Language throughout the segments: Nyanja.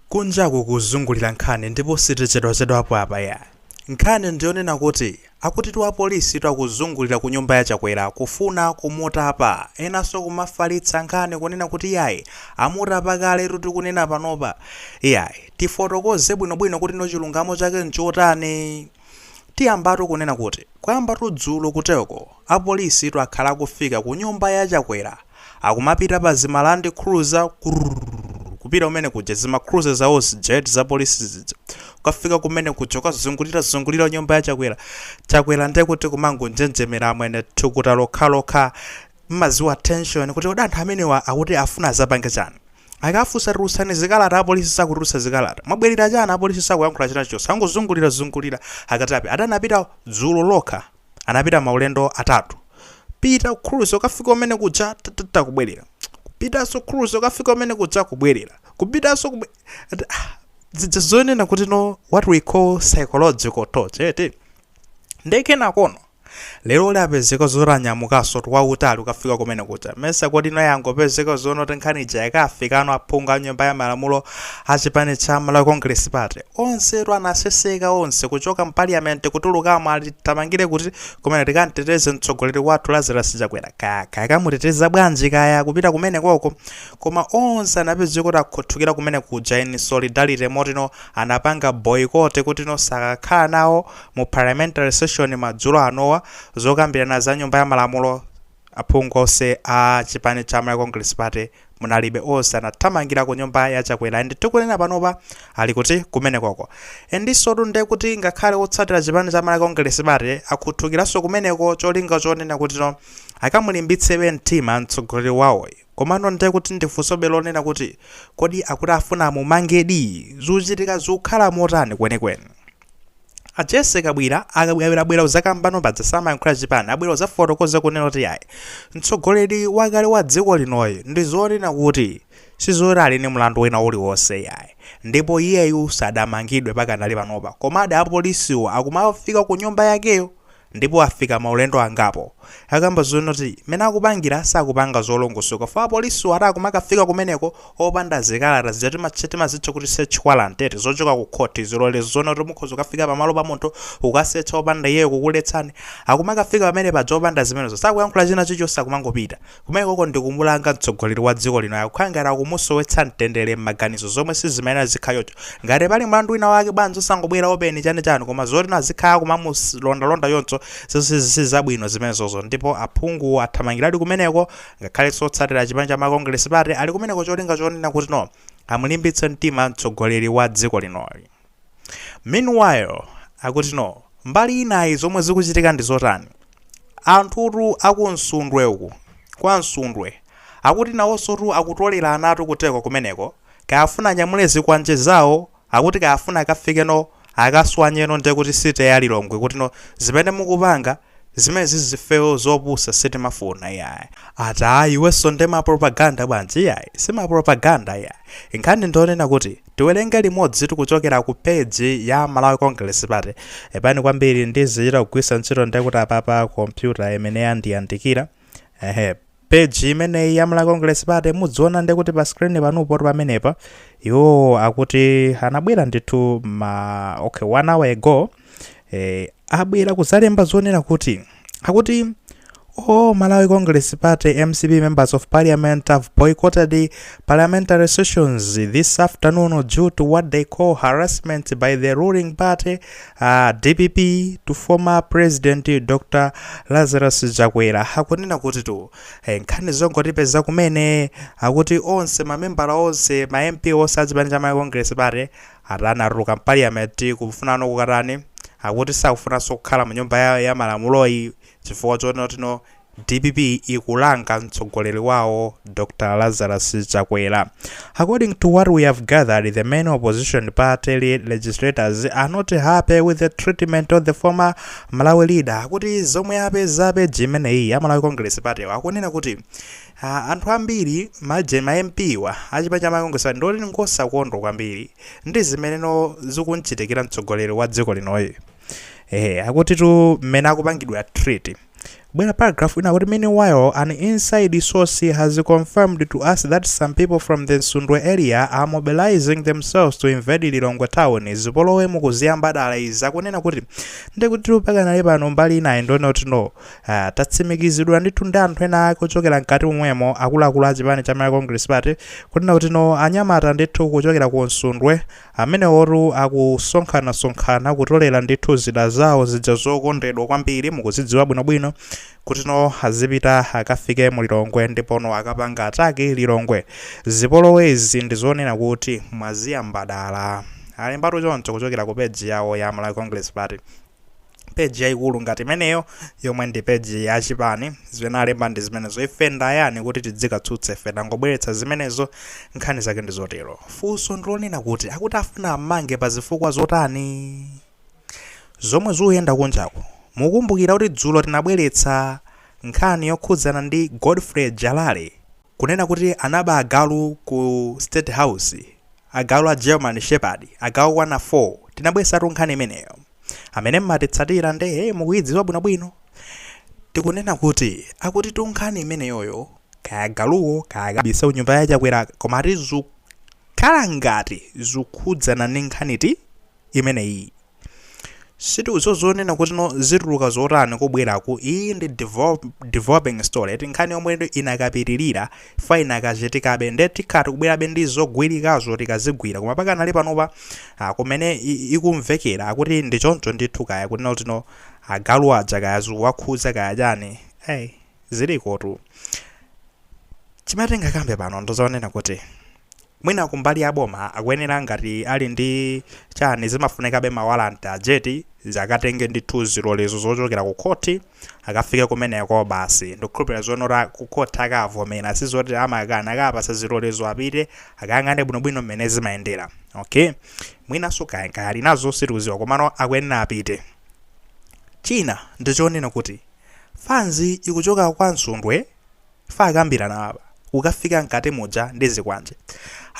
Kunjaku kuzungulira nkhani ndipo sitichedwachedwapo apa iyayi. Nkhani ndiyonena kuti akutitu apolisitu akuzungulira kunyumba ya Chakwera kufuna kumutapa, enanso kumafalitsa nkhani kunena kuti yayi amutapa kaletu tikunena panopa. Iyayi, tifotokoze bwinobwino kuti no chilungamo chake nchotani? Tiyambatu kunena kuti kuyambatu dzulo kuteko. Apolisitu akhala akufika kunyumba ya Chakwera akumapita pa zima land cruiser kurrrr kupita kumene kuja zima cruiser zawozi jet za polisi zija kukafika kumene kuja kukazungulira zungulira nyumba ya Chakwera Chakwera nde kuti kumangonjenjemera amwene thukuta lokhalokha mmadziwa tension kuti kodi anthu amenewa akuti afuna adzapange chani akafunsa tulutsani zikalata apolisi sakutulutsa zikalata mwabwerera chani apolisi sakuyankhula china chilichonse angozungulira zungulira akatapita anapita dzulo lokha anapita maulendo atatu pita cruiser kukafika kumene kuja tatata kubwerera kupitanso cruiser kukafika kumene kuja kubwerera kupitanso kubwe- ati, ah, zija zonena kuti no what we call psychological torture eti ndiye kenakono lero uli apezeka zotanyamukanso ati wautali kukafika kumene kuja mesa kodi naye yangopezeka zonena kuti nkhani ija yakafika kwa aphungu a nyumba ya malamulo a chipani cha malawi congress party Onsetu anaseseka onse kuchoka mparliament kutulukamo ali tithamangire kuti kumene tikamteteze mtsogoleri wathu Lazarus Chakwera kaya kaya kamuteteza bwanji kaya kupita kumene koko koma onse anapezeka kuti akhuthukira kumene kuja in solidarity moti no anapanga boycott kuti no sakakhala nawo mu parliamentary session madzulo anowa zokambirana za nyumba ya malamulo Aphungu onse a chipani cha Malawi Congress Party munalibe onse anathamangira ku nyumba ya Chakwera and tikunena panopa ali kuti kumenekoko endisotu nde kuti ngakhale otsatira chipani cha Malawi Congress Party akhuthukiranso kumeneko cholinga chonena kuti no akamulimbitsebe mtima mtsogoleri wawoyu komano nde kuti ndifunsobe lonena kuti kodi akuti afuna amumangedi? Zuchitika zikukhala motani kwenikweni? A Jesse kabwira a Kabwira abwera kudzakamba no paja amayankhulira chipani abwera kudzafotokoza kunena kuti ayi mtsogoleri wakale wa dziko linoyu ndi zonena kuti sizoti ali ndi mlandu wina uliwonse yayi ndipo iyeyu sadamangidwe pakanali panopa komabe apolisiwo akumafika ku nyumba yakeyo ndipo afika maulendo angapo. Akamba zonoti mmene akupangira sakupanga zolongosoka fo apolisiwo ati akumakafika kumeneko opanda zikalata zija tima- timazitcha kuti search warrant eti zochoka ku khothi zilolezo zonoti mukhoza kukafika pamalo pa munthu kukasetcha opanda iyeyo kukuletsani akumakafika pamene paja opanda zimenezo sakuyankhula china chilichonse akumangopita Kumeneko ndi kumulanga mtsogoleri wa dziko lino akukhala ngati kumusowetsa mtendere mmaganizo zomwe sizimayenera zikhale choncho. Ngati pali mlandu wina wake bwanji osangobwera open chani chani koma zoti no azikhala akumamuslondalonda choncho sizabwino zimenezozo ndipo aphunguwo athamangiradi kumeneko ngakhalenso otsatira chipani cha Malawi Congress party ali kumeneko cholinga chonena kuti no amulimbitse mtima mtsogoleri wa dziko linoyu. Meanwhile, akuti no, mbali inayi zomwe zikuchitika ndi zotani? Anthutu a ku Nsundwe uku, kwa Nsundwe, akuti nawonsotu akutolera anatu ku Teko kumeneko, kaya afuna anyamule zikwanje zawo, akuti kaya afuna akafikeno akaswanyeno ndekuti city ya Lilongwe kuti no zimene mukupanga, Zimenezi ifeyo zopusa sitimafuna iyayi ati iwenso nde ma propaganda bwanji iyayi sima propaganda iyayi nkhani ndi yonena kuti tiwelenge limodzi tikuchokera ku page ya Malawi Congress party pepani kwambiri ndizichita kugwirisa ntchito ndekuti apapa computer imene yandiyandikira ehe page imeneyi ya malawi congress party mudziona nde kuti pa screen panupo tu pamenepa iwo akuti anabwera ndithu mma okay one hour ago eh, abwera kuzalemba zonena kuti akuti all malawi congress party mcp members of parliament have boycotted the parliamentary sessions this afternoon due to what they call harassment by the ruling party dpp to former president Dr Lazarus Chakwera akunena kuti tu eh, nkhani zongotipeza kumene akuti onse mamembala onse ma MP onse a chipani cha Malawi Congress Party atani atuluka parliament kufunano kukatani akuti sakufunanso kukhala mu nyumba ya, ya malamuloyi chifukwa choti no Dpp ikulanga mtsogoleri wawo Dr Lazarus Chakwera. According to what we have gathered, the main opposition party legislators are not happy with the treatment of the former Malawi leader. Akuti zomwe apeza page imeneyi ya Malawi Congress Party wa akunena kuti ah, anthu ambiri maje ma MP wa achipani cha Malawi Congress Party ndi oti ngosakondwa kwambiri ndi zimene no zikumchitikira mtsogoleri wa dziko linoyi. Eh, akutitu mmene akupangidwa treat Bwera paragraph ina kuti meanwhile an inside source has confirmed to us that some people from the Nsundwe area are mobilizing themselves to invade Lilongwe town. Zipolowe mukuziyamba dala izi akunena kuti ndikuti pakanali pano mbali inayi ndi yoti no. Uh, tatsimikiziridwa ndithu ndi anthu ena ake ochokera mkati momwemo akuluakulu a chipani cha Malawi Congress Party kunena kuti no anyamata ndithu kuchokera ku Nsundwe Amenewotu akusonkhanasonkhana kutolera ndithu zida zawo zija zokondedwa kwambiri, mukuzidziwa bwinobwino, kuti no azipita akafike mu Lilongwe ndipo no akapanga attack Lilongwe. Zipolowezi ndi zonena kuti mwaziyamba dala. Alembatu choncho kuchokera ku page yawo ya Malawi Congress Party. page yaikulu ngati imeneyo yomwe ndi page ya chipani zimene alemba ndi zimenezo ife ndayani kuti tidzikatsutse ife tangobweretsa zimenezo nkhani zake ndi zotero funso ndilonena kuti akuti afuna ammange pa zifukwa zotani zomwe zikuyenda kunjako mukumbukira kuti dzulo tinabweretsa nkhani yokhudzana ndi godfrey jalale Kunena kuti anaba agalu ku state house, agalu a German shepherd agalu okwana 4, tinabwesatu nkhani imeneyo. Amene mmatitsatira nde mukuyidziwa bwinobwino. Tikunena kuti akutitu nkhani imeneyoyo kaya agaluwo kaya akabise ku nyumba ya Chakwera koma ati zukhala ngati zukhudzana ndi nkhaniti? imeneyi sitikudziwa zoonena kuti no zituluka zotani kubweraku iyi ndi develop- developing story eti nkhani yomwe inakapitirira fa inakachitikabe nde tikhala tikubwerabe ndi zogwirikazo tikazigwira koma pakanali panopa ah, kumene i- ikumvekera akuti ndi choncho ndithu kaya kunena kuti no agalu aja kaya zikuwakhudza kaya chani hey, zilikotu chimene tingakambe pano ndi zonena kuti mwina kumbali a boma akuyenera ngati ali ndi chani zimafunikabe mawalanti eti zakatenge ndithu zilolezo zochokera ku khoti akafike kumeneko basi ndikukhulupirira zonena kuti ku khoti akavomera sizoti amakana akapasa zilolezo apite akayang'ane bwinobwino mmene zimayendera okay mwinanso kaya kaya ali nazo sitikuziwa komano akuyenera apite china ndichonena kuti fanzi ikuchoka kwa msundwe Yakambirana apa, kukafika mkati muja ndi zikwanje.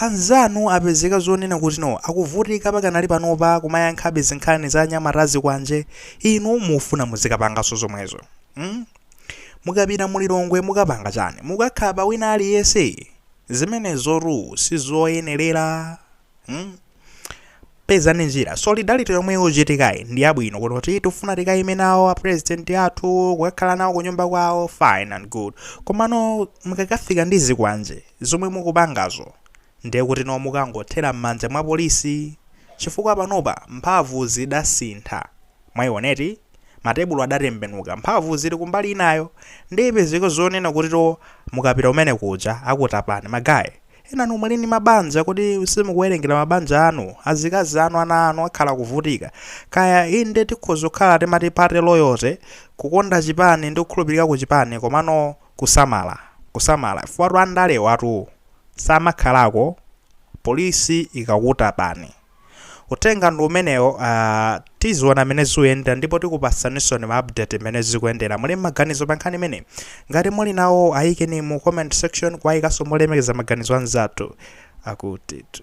Anzanu apezeka zonena kuti no, akuvutika pakanali panopa kumayankhabe zinkhani za anyamata a zikwanje, inu mufuna muzikapanganso zomwezo. Hmm? Mukapita mu Lilongwe mukapanga chani? Mukakakhapa wina aliyense? Zimenezotu sizoyenerera. hmm? pezani njira solidarity yomwe ikuchitikayi ndi yabwino kunena kuti tifuna tikayime nawo apresidenti athu kukakhala nawo kunyumba kwawo fine and good komano mukakafika ndi zikwanje zomwe mukupangazo ndiye kuti no mukangothera m'manja mwa polisi chifukwa panopa mphamvu zidasintha Mwaiona eti? Matebulo adatembenuka, mphamvu zili kumbali inayo. Ndiye ipezeke zonena kuti no mukapita kumene kuja akutapani. Ma guy, enanu muli ndi mabanja kodi simukuwerengera mabanja anu, azikazi anu, ana anu akhala akuvutika. Kaya inde tikhoza kukhala timati party loyalty, kukonda chipani ndi kukhulupirika ku chipani komano kusamala, kusamala chifukwatu andalewatu samakhalako police ikakutapani. Uthenga ndi umenewo, ah, tiziona mmene zikuyendera ndipo tikupatsaninsoni ma update mmene zikuyendera. Muli ndi maganizo pa nkhani imeneyi? Ngati muli nawo ayikeni mu comment section koma ayikenso molemekeza maganizo anzathu akutitu.